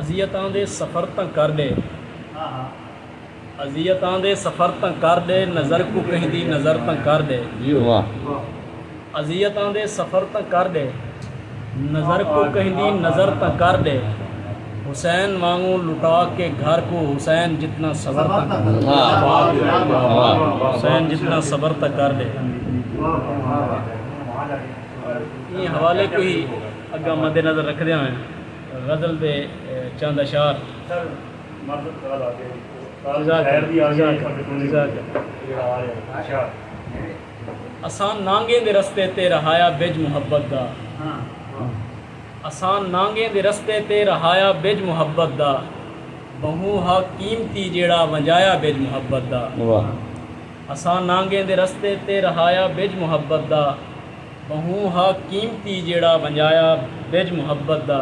اذیتاں دے سفر تاں کر ݙے۔ اذیتاں دے سفر تاں کر ݙے۔ نظر کوں کہیں دی نظر تاں کر ݙے۔ اذیتاں دے سفر تاں کر ݙے۔ نظر کوں کہیں دی نظر تاں کر ݙے۔ حسین وانگوں لٹا کے گھر کوں۔ حسین جتنا صبر تاں کر ݙے۔ حسین جتنا صبر تاں کر ݙے۔ ایں حوالے کوں ہی اگاں مدنظر رکھدیاں ہوئیں۔ غزل دے چند اشعار۔ اساں نانگیں دے رستے تے رہایا بج محبت دا۔ اساں نانگیں دے رستے تے رہایا بج محبت دا۔ ٻہوں ہا قیمتی جیڑھا ونڄایا بج محبت دا۔ اساں نانگیں دے رستے تے رہایا بج محبت دا۔ ٻہوں ہا قیمتی جیڑھا ونڄایا ٻجھ محبت دا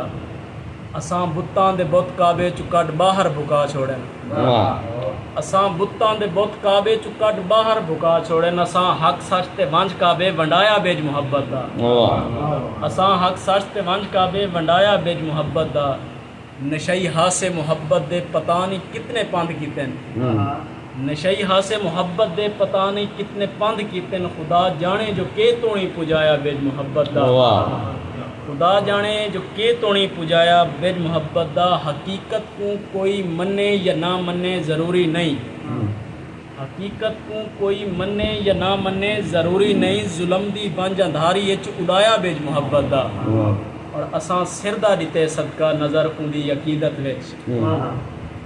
اساں بتاں دے بت کعبے چوں کڈھ ٻاہر بھکا چھوڑن اساں بتاں دے بت کعبے چوں کڈھ ٻاہر بھکا چھوڑن اساں حق سچ تے ونڄ کعبے ونڈایا ٻجھ محبت دا اساں حق سچ تے ونڄ کعبے ونڈایا ٻجھ محبت دا۔ نشئی ہاسے محبت دے پتا نئیں کتنے پندھ کیتن نشئی ہاسے محبت دے پتا نئیں کتنے پندھ کیتن خدا جانے جو کے توڑیں پجایا بج محبت دا خدا جانے جو کے توڑیں پجایا بج محبت دا حقیقت کوں کوئی منے یا نہ منے ضروری نئیں حقیقت کوں کوئی منے یا نہ منے ضروری نئیں ظلم دی ونج اندھاری اچ اڈایا بیج محبت دا اور اساں سر دا ڈتے صدقہ نظر اوندی عقیدت وچ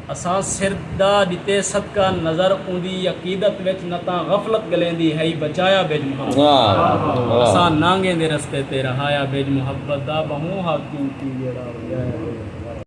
اساں سر دا ڈتے صدقہ نظر اوندی عقیدت وچ نہ تاں غفلت گلیندی ہئی بچایا بیج محبت دا اساں نانگیں دے رستے تے رہایا بیج محبت دا بہوں حاکم کیوں جیڑھا اڈایا بیج